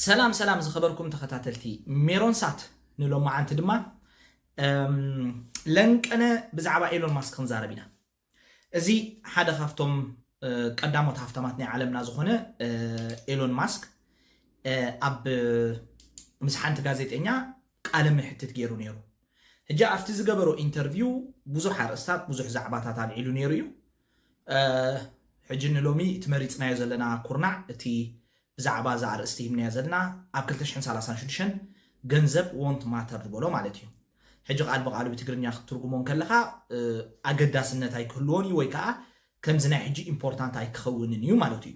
ሰላም ሰላም ዝኸበርኩም ተኸታተልቲ ሜሮን ሳት ንሎማዓንቲ ድማ ለንቀነ ብዛዕባ ኤሎን ማስክ ክንዛረብ ኢና እዚ ሓደ ካብቶም ቀዳሞት ሃፍታማት ናይ ዓለምና ዝኾነ ኤሎን ማስክ ኣብ ምስ ሓንቲ ጋዜጠኛ ቃለ ምሕትት ገይሩ ነይሩ ሕጂ ኣብቲ ዝገበሮ ኢንተርቪው ብዙሕ ኣርእስታት ብዙሕ ዛዕባታት ኣልዒሉ ነይሩ እዩ ሕጂ ንሎሚ እቲ መሪጽናዮ ዘለና ኩርናዕ እቲ ብዛዕባ እዛ ኣርእስቲ ሂብናያ ዘለና ኣብ ክልተ ሽሕን ሰላሳን ሽዱሽተን ገንዘብ won't matter ዝበሎ ማለት እዩ። ሕጂ ቃል ብቃሉ ብትግርኛ ክትትርጉሞ እንከለኻ ኣገዳስነት ኣይክህልዎን እዩ ወይ ከኣ ከምዚ ናይ ሕጂ ኢምፖርታንት ኣይክኸውንን እዩ ማለቱ እዩ።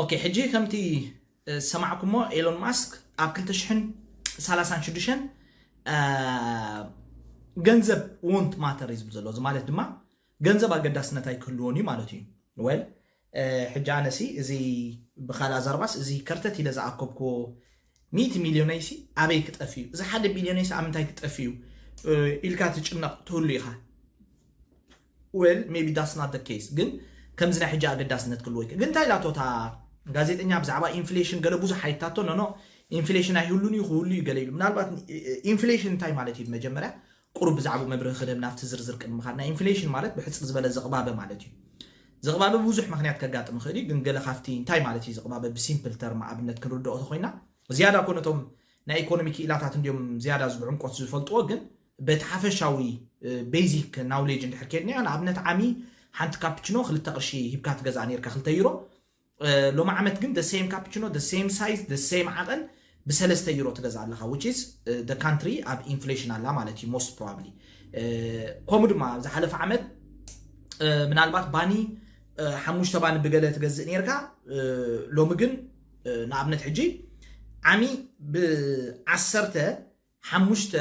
ኦኬ ሕጂ ከምቲ ዝሰማዕኩሞ ኤሎን ማስክ ኣብ ክልተ ሽሕን ሰላሳን ሽዱሽተን ገንዘብ ወንት ማተር እዩ ዝብል ዘሎ እዚ ማለት ድማ ገንዘብ ኣገዳስነት ኣይክህልዎን እዩ ማለት እዩ ወል ሕጂ ኣነሲ እዚ ብካልእ ኣዛርባስ እዚ ከርተት ኢለ ዝኣከብክዎ ሚእቲ ሚልዮነይሲ ኣበይ ክጠፍ እዩ እዚ ሓደ ቢልዮነይሲ ኣብ ምንታይ ክጠፍ እዩ ኢልካ ትጭነቕ ትህሉ ኢኻ ዌል ሜቢ ዳትስ ናት ዘ ኬስ ግን ከምዚ ናይ ሕጂ ኣገዳስነት ክልዎ ይክእል ግን እንታይ ኢላቶ እታ ጋዜጠኛ ብዛዕባ ኢንፍሌሽን ገለ ብዙሕ ኣይታቶ ኖኖ ኢንፍሌሽን ኣይህሉን እዩ ክህሉ እዩ ገለ ኢሉ ምናልባት ኢንፍሌሽን እንታይ ማለት እዩ መጀመርያ ቁሩብ ብዛዕባኡ መብርሂ ክህደብ ናብቲ ዝርዝር ቅድሚ ምኻድና ኢንፍሌሽን ማለት ብሕጽር ዝበለ ዝቕባበ ማለት እዩ ዝቕባበ ብብዙሕ ምክንያት ከጋጥም ይኽእል እዩ ግን ገለ ካብቲ እንታይ ማለት እዩ ዝቕባበ ብሲምፕል ተርም ኣብነት ክንርድኦ ተኾይና ዝያዳ እኮ ነቶም ናይ ኢኮኖሚ ክኢላታት እንዲዮም ዝያዳ ዝብዕምቆት ዝፈልጥዎ ግን በቲ ሓፈሻዊ ቤዚክ ናውሌጅ እንድሕር ኬድናዮ ንኣብነት ዓሚ ሓንቲ ካፕችኖ ክልተ ቅርሺ ሂብካ ትገዝኣ ነርካ ክልተ ዩሮ ሎሚ ዓመት ግን ደሴም ካፕችኖ ደሴም ሳይዝ ደሴም ዓቐን ብሰለስተ ዩሮ ትገዝኣ ኣለካ ዊች ኢዝ ደ ካንትሪ ኣብ ኢንፍሌሽን ኣላ ማለት እዩ ሞስት ፕሮባብሊ ከምኡ ድማ ኣብ ዝሓለፈ ዓመት ምናልባት ባኒ ሓሙሽተ ባኒ ብገለ ትገዝእ ነርካ ሎሚ ግን ንኣብነት ሕጂ ዓሚ ብዓሰርተ ሓሙሽተ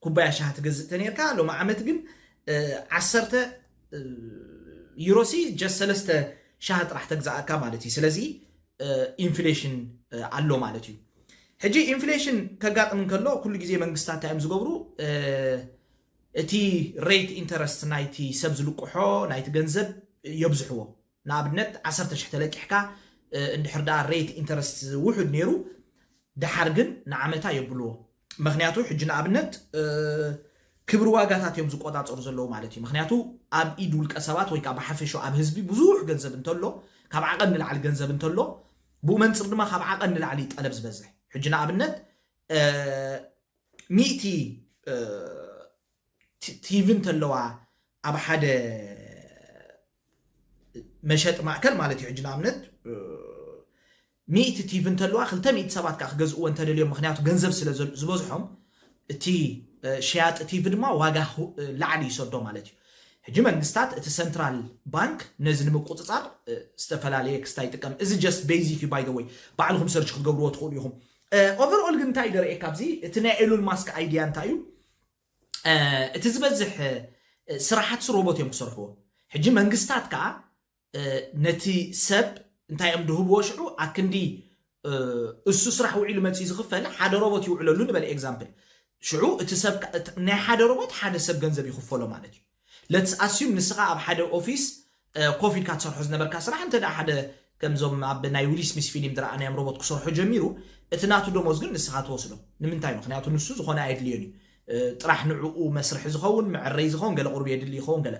ኩባያ ሻሂ ትገዝእ ተኔርካ ሎሚ ዓመት ግን ዓሰርተ ዩሮሲ ጀስ ሰለስተ ሻሂ ጥራሕ ተግዛኣካ ማለት እዩ ስለዚ ኢንፍሌሽን ኣሎ ማለት እዩ ሕጂ ኢንፍሌሽን ከጋጥም እንከሎ ኩሉ ግዜ መንግስታት እንታይ እዮም ዝገብሩ እቲ ሬት ኢንተረስት ናይቲ ሰብ ዝልቅሖ ናይቲ ገንዘብ የብዝሕዎ ንኣብነት ዓሰርተ ሽሕ ተለቂሕካ እንድሕር ደኣ ሬት ኢንተረስት ውሑድ ነይሩ ደሓር ግን ንዓመታ የብልዎ ምኽንያቱ ሕጂ ንኣብነት ክብሪ ዋጋታት እዮም ዝቆጻጸሩ ዘለዉ ማለት እዩ ምኽንያቱ ኣብ ኢድ ውልቀ ሰባት ወይ ከዓ ብሓፈሾ ኣብ ህዝቢ ብዙሕ ገንዘብ እንተሎ ካብ ዓቐን ንላዕሊ ገንዘብ እንተሎ ብኡ መንፅር ድማ ካብ ዓቐን ንላዕሊ ጠለብ ዝበዝሕ ሕጂ ንኣብነት ሚእቲ ቲቪ እንተለዋ ኣብ ሓደ መሸጢ ማእከል ማለት እዩ ሕጂ ንኣብነት ሚእቲ ቲቪ እንተለዋ ክልተ ሚእቲ ሰባት ከዓ ክገዝእዎ እንተደልዮም ምክንያቱ ገንዘብ ስለ ዝበዝሖም እቲ ሸያጢ ቲቪ ድማ ዋጋ ላዕሊ ይሰዶ ማለት እዩ ሕጂ መንግስታት እቲ ሰንትራል ባንክ ነዚ ንምቁፅፃር ዝተፈላለየ ክስታ ይጥቀም እዚ ጀስት ቤዚክ እዩ ባይ ዘ ወይ ባዕልኩም ሰርች ክትገብርዎ ትኽእሉ ኢኹም ኦቨርኦል ግን እንታይ ደርእየካ ኣብዚ እቲ ናይ ኤሉን ማስክ ኣይድያ እንታይ እዩ እቲ ዝበዝሕ ስራሓት ሮቦት እዮም ክሰርሕዎ ሕጂ መንግስታት ከዓ ነቲ ሰብ እንታይ እዮም ድህብዎ ሽዑ ኣክንዲ እሱ ስራሕ ውዒሉ መፅኡ ዝኽፈል ሓደ ሮቦት ይውዕለሉ ንበል ኤግዛምፕል ሽዑ እቲ ሰብ ናይ ሓደ ሮቦት ሓደ ሰብ ገንዘብ ይኽፈሎ ማለት እዩ ለትስ ኣስዩም ንስኻ ኣብ ሓደ ኦፊስ ኮፍ ኢልካ ትሰርሖ ዝነበርካ ስራሕ እንተ ሓደ ከምዞም ኣብ ናይ ዊሊ ስሚስ ፊሊም ዝረኣናዮም ሮቦት ክሰርሖ ጀሚሩ እቲ ናቱ ደሞዝ ግን ንስኻ ትወስዶ ንምንታይ ምኽንያቱ ንሱ ዝኾነ ኣየድልዮን እዩ ጥራሕ ንዕኡ መስርሒ ዝኸውን መዐረይ ዝኸውን ገለ ቁርብ የድሊ ይኸውን ገለ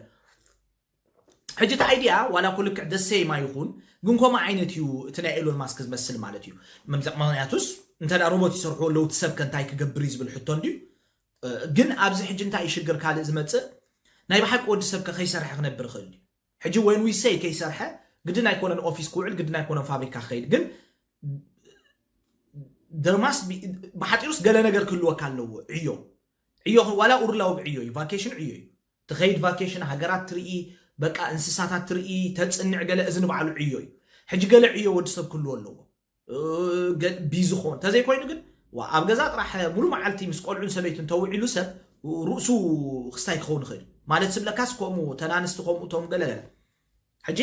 ሕጂ እቲ ኣይዲያ ዋላ እኮ ልክዕ the same ኣይኹን ግን ከምኡ ዓይነት እዩ እቲ ናይ ኤሎን ማስክ ዝመስል ማለት እዩ ምክንያቱስ እንተ ሮቦት ይሰርሕዎ ኣለዉ እቲ ሰብከ እንታይ ክገብር እዩ ዝብል ሕቶ እንድዩ ግን ኣብዚ ሕጂ እንታይ እዩ ሽግር ካልእ ዝመጽእ ናይ ብሓቂ ወዲ ሰብከ ከይሰርሐ ክነብር ይኽእል ድዩ ሕጂ ወን ዊ ሰይ ከይሰርሐ ግድን ኣይኮነን ኦፊስ ክውዕል ግድን ኣይኮነን ፋብሪካ ክኸይድ ግን ደርማስ ብሓጢሩስ ገለ ነገር ክህልወካ ኣለዎ ዕዮ ዕዮ ዋላ ኡርላዊ ብዕዮ እዩ ቫኬሽን ዕዮ እዩ ትኸይድ ቫኬሽን ሃገራት ትርኢ በቃ እንስሳታት ትርኢ ተፅንዕ ገለ እዚ ንባዕሉ ዕዮ እዩ ሕጂ ገለ ዕዮ ወዲ ሰብ ክህልዎ ኣለዎ ቢዝኾን ተዘይኮይኑ ግን ኣብ ገዛ ጥራሕ ሙሉ መዓልቲ ምስ ቆልዑን ሰበይቱን ተውዒሉ ሰብ ርእሱ ክስታይ ክኸውን ይኽእል ማለት ስብለካስ ከምኡ ተናንስቲ ከምኡ ቶም ገለገለ ሕጂ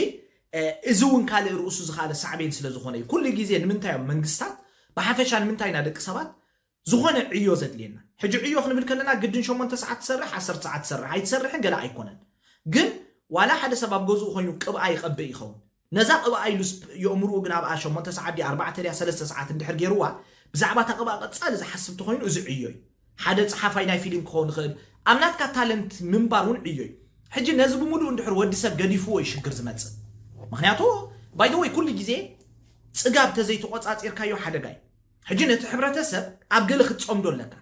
እዚ እውን ካልእ ርእሱ ዝካለ ሳዕቤን ስለ ዝኾነ እዩ ኩሉ ግዜ ንምንታይ እዮም መንግስታት ብሓፈሻ ንምንታይ ኢና ደቂ ሰባት ዝኾነ ዕዮ ዘድልየና ሕጂ ዕዮ ክንብል ከለና ግድን ሸሞንተ ሰዓት ትሰርሕ ዓሰርተ ሰዓት ትሰርሕ ኣይትሰርሕን ገለ ኣይኮነን ግን ዋላ ሓደ ሰብ ኣብ ገዝኡ ኮይኑ ቅብኣ ይቀብእ ይኸውን ነዛ ቅብኣ ኢሉስ የእምርኡ ግን ኣብኣ ሸሞንተ ሰዓት ድያ ኣርባዕተ ድያ ሰለስተ ሰዓት እንድሕር ጌርዋ ብዛዕባ እታ ቅብኣ ቀጻሊ ዝሓስብ ተኾይኑ እዚ ዕዮ እዩ ሓደ ጸሓፋይ ናይ ፊሊም ክኸውን ይኽእል ኣብ ናትካ ታለንት ምንባር እውን ዕዮ እዩ ሕጂ ነዚ ብምሉኡ እንድሕር ወዲ ሰብ ገዲፍዎ እዩ ሽግር ዝመጽእ ምኽንያቱ ባይ ዘ ወይ ኩሉ ግዜ ጽጋብ ተዘይተቆጻጺርካዮ ሓደጋ እዩ ሕጂ ነቲ ሕብረተ ሰብ ኣብ ገለ ክትጸምዶ ኣለካ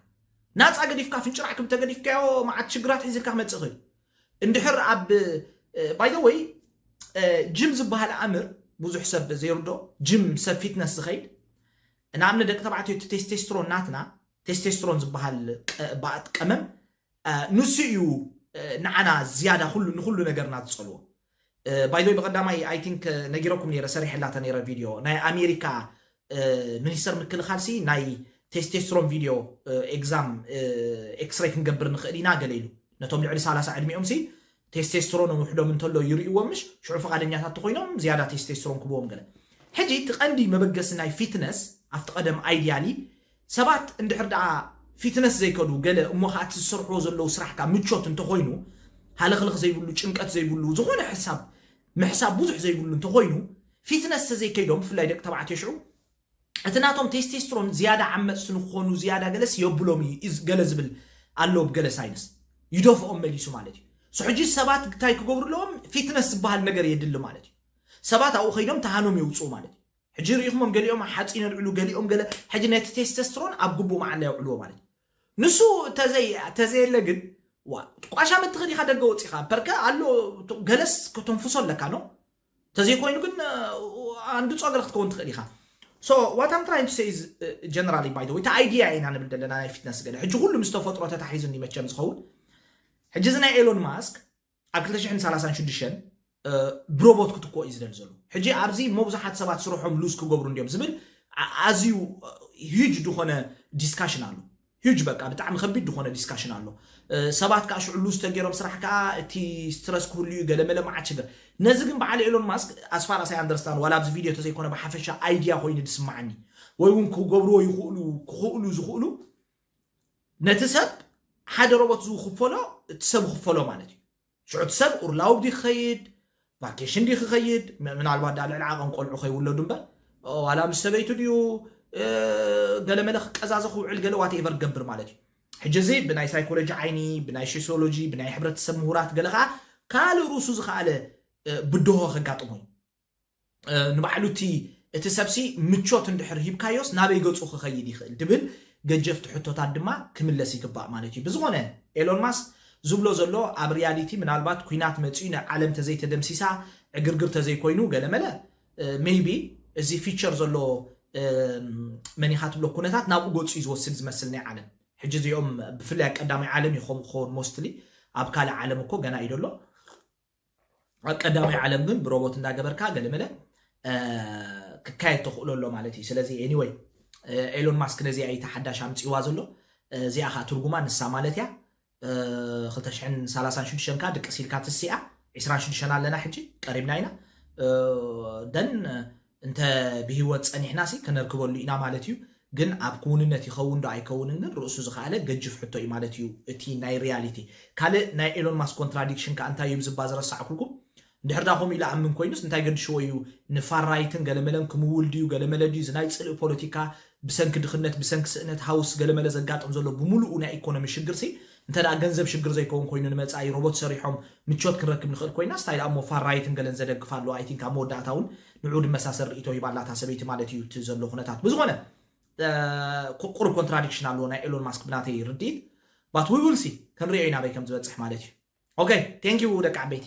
ናጻ ገዲፍካ ፍንጭራዕ ክብ ተገዲፍካዮ መዓት ሽግራት ሒዝልካ ክመጽእ ይኽእል እንድሕር ኣብ ባይ ዘ ወይ ጅም ዝበሃል ኣምር ብዙሕ ሰብ ዘይርዶ ጅም ሰብ ፊትነስ ዝኸይድ ንኣብነ ደቂ ተባዕትዮ እቲ ቴስቴስትሮን ናትና ቴስቴስትሮን ዝበሃል ባእት ቀመም ንሱ እዩ ንዓና ዝያዳ ንኩሉ ነገርና ዝጸልዎ ባይ ዘ ወይ ብቀዳማይ ኣይ ቲንክ ነጊረኩም ነይረ ሰሪሐላተ ነይረ ቪድዮ ናይ ኣሜሪካ ሚኒስተር ምክልኻል ሲ ናይ ቴስቴስትሮን ቪድዮ ኤግዛም ኤክስሬይ ክንገብር ንኽእል ኢና ገለ ኢሉ ነቶም ልዕሊ ሳላሳ ዕድሚኦም ሲ ቴስቴስትሮን ውሕዶም እንተሎ ይርእይዎም ምሽ ሽዑ ፍቃደኛታት ተኾይኖም ዝያዳ ቴስቴስትሮን ክብዎም ገለ ሕጂ እቲ ቀንዲ መበገሲ ናይ ፊትነስ ኣብቲ ቀደም ኣይዲያሊ ሰባት እንድሕር ደኣ ፊትነስ ዘይከዱ ገለ እሞ ከኣ እቲ ዝሰርሕዎ ዘለዉ ስራሕካ ምቾት እንተኾይኑ ሃለኽለኽ ዘይብሉ ጭንቀት ዘይብሉ ዝኾነ ሕሳብ ምሕሳብ ብዙሕ ዘይብሉ እንተኾይኑ ፊትነስ ተዘይከይዶም ብፍላይ ደቂ ተባዕትዮ ሽዑ እቲ ናቶም ቴስቴስትሮን ዝያዳ ዓመጽቲ ንክኾኑ ዝያዳ ገለስ የብሎም እዩ ኢዝ ገለ ዝብል ኣሎ ብ ገለ ሳይንስ ይደፍኦም መሊሱ ማለት እዩ ሶ ሕጂ ሰባት ታይ ክገብሩ ኣለዎም ፊትነስ ዝበሃል ነገር የድሊ ማለት እዩ ሰባት ኣብኡ ከይዶም ተሃኖም የውጽኡ ማለት እዩ ሕጂ ሪኢኽሞም ገሊኦም ሓጺን የልዕሉ ገሊኦም ገለ ሕጂ ነቲ ቴስተስትሮን ኣብ ግቡእ መዓላ የውዕልዎ ማለት እዩ ንሱ ተዘይ ተዘየለ ግን ዋ ቋሻ መትኺ ዲኻ ደገ ወጺኻ ፐርከ ኣሎ ገለስ ከተንፍሶ ኣለካ ኖ ተዘይኮይኑ ግን ኣንዱ ጾገር ክትከውን ትኽእል ኢኻ ሶ ዋት ኣም ትራይን ቱ ሰይ ጀነራሊ ባይ ወይ እቲ ኣይዲያ ኢና ንብል ዘለና ናይ ፊትነስ ገለ ሕጂ ኩሉ ምስ ተፈጥሮ ተታሒዙኒ መቸም ዝኸውን ሕጂ እዚ ናይ ኤሎን ማስክ ኣብ ክልተ ሽሕን ሰላሳን ሽዱሽተን ብሮቦት ክትኮ እዩ ዝደሊ ዘሎ ሕጂ ኣብዚ መብዙሓት ሰባት ስርሖም ሉዝ ክገብሩ እንዲዮም ዝብል ኣዝዩ ሂጅ ዝኾነ ዲስካሽን ኣሎ ሂጅ በቃ ብጣዕሚ ከቢድ ዝኾነ ዲስካሽን ኣሎ ሰባት ከዓ ሽዑ ሉዝ ተገይሮም ስራሕ ከዓ እቲ ስትረስ ክህሉ እዩ ገለመለ መዓት ሽግር ነዚ ግን በዓል ኤሎን ማስክ ኣስፋር ኣሳይ ኣንደርስታን ዋላ ኣብዚ ቪድዮ ተዘይኮነ ብሓፈሻ ኣይድያ ኮይኑ ዝስማዓኒ ወይ እውን ክገብርዎ ይኽእሉ ክኽእሉ ዝኽእሉ ነቲ ሰብ ሓደ ሮቦት ዝውክፈሎ እቲ ሰብ ክፈሎ ማለት እዩ ሽዑ እቲ ሰብ ኡርላውብ ዲ ክኸይድ ቫኬሽን ዲ ክኸይድ ምናልባት ዳ ልዕሊ ዓቐን ቆልዑ ከይውለዱ እምበር ዋላ ምስ ሰበይቱ ድዩ ገለ መለ ክቀዛዘ ክውዕል ገለ ዋት ኤቨር ገብር ማለት እዩ ሕጂ እዚ ብናይ ሳይኮሎጂ ዓይኒ ብናይ ሶሲዮሎጂ ብናይ ሕብረተሰብ ምሁራት ገለ ከዓ ካልእ ርእሱ ዝኸኣለ ብድሆ ከጋጥሞ እዩ ንባዕሉ እቲ እቲ ሰብሲ ምቾት እንድሕር ሂብካዮስ ናበይ ገጹ ክኸይድ ይኽእል ድብል ገጀፍቲ ሕቶታት ድማ ክምለስ ይግባእ ማለት እዩ። ብዝኾነ ኤሎን ማስክ ዝብሎ ዘሎ ኣብ ሪያሊቲ ምናልባት ኩናት መጺኡ ናይ ዓለም ተዘይተደምሲሳ ዕግርግር ተዘይኮይኑ ገለመለ ሜይቢ እዚ ፊቸር ዘሎ መን ኢኻ ትብሎ ኩነታት ናብኡ ገጹ እዩ ዝወስድ ዝመስል ናይ ዓለም ሕጂ እዚኦም ብፍላይ ቀዳማይ ዓለም እዩ ከምኡ ክኸውን ሞስትሊ ኣብ ካልእ ዓለም እኮ ገና እዩ ደሎ ኣብ ቀዳማይ ዓለም ግን ብሮቦት እንዳገበርካ ገለመለ ክካየድ ተኽእሎ ኣሎ ማለት እዩ ስለዚ ኤኒወይ ኤሎን ማስክ ነዚኣ ኢታ ሓዳሽ ኣምፅዋ ዘሎ እዚኣ ከዓ ትርጉማ ንሳ ማለት እያ 236 ካ ድቅስ ኢልካ ትስኣ 26 ኣለና ሕጂ ቀሪብና ኢና ደን እንተ ብሂወት ጸኒሕናሲ ከነርክበሉ ኢና ማለት እዩ ግን ኣብ ክውንነት ይኸውን ዶ ኣይከውንን ግን ርእሱ ዝኸኣለ ገጅፍ ሕቶ እዩ ማለት እዩ እቲ ናይ ሪያሊቲ ካልእ ናይ ኤሎን ማስክ ኮንትራዲክሽን ከኣ እንታይ እዩ ብዝባ ዝረሳዕኩልኩም እንድሕር ድኣ ከምኡ ኢሉ ኣምን ኮይኑስ እንታይ ገድሽዎ እዩ ንፋር ራይትን ገለመለን ክምውል ድዩ ገለመለ ድዩ እዚ ናይ ጽልኢ ፖለቲካ ብሰንኪ ድኽነት ብሰንኪ ስእነት ሃውስ ገለመለ ዘጋጥም ዘሎ ብምሉኡ ናይ ኢኮኖሚ ሽግርሲ እንተ ገንዘብ ሽግር ዘይከውን ኮይኑ ንመጻኢ ሮቦት ሰሪሖም ምቾት ክንረክብ ንኽእል ኮይናስ ታይ ድኣሞ ፋር ራይትን ገለን ዘደግፍ ኣሎ ኣይ ቲንክ ኣብ መወዳእታ ውን ንዕኡ ድመሳሰል ርኢቶ ሂባ ኣላ እታ ሰበይቲ ማለት ኢዩ እቲ ዘሎ ኩነታት ብዝኾነ ቁሩብ ኮንትራዲክሽን ኣለዎ ናይ ኤሎን ማስክ ብናተይ ርድኢት ባት ዊ ዊል ሲ ክንሪኦ ኢና ኣበይ ከም ዝበጽሕ ማለት ኢዩ ኦከይ ቴንኪው ደቂ ዓበይቲ።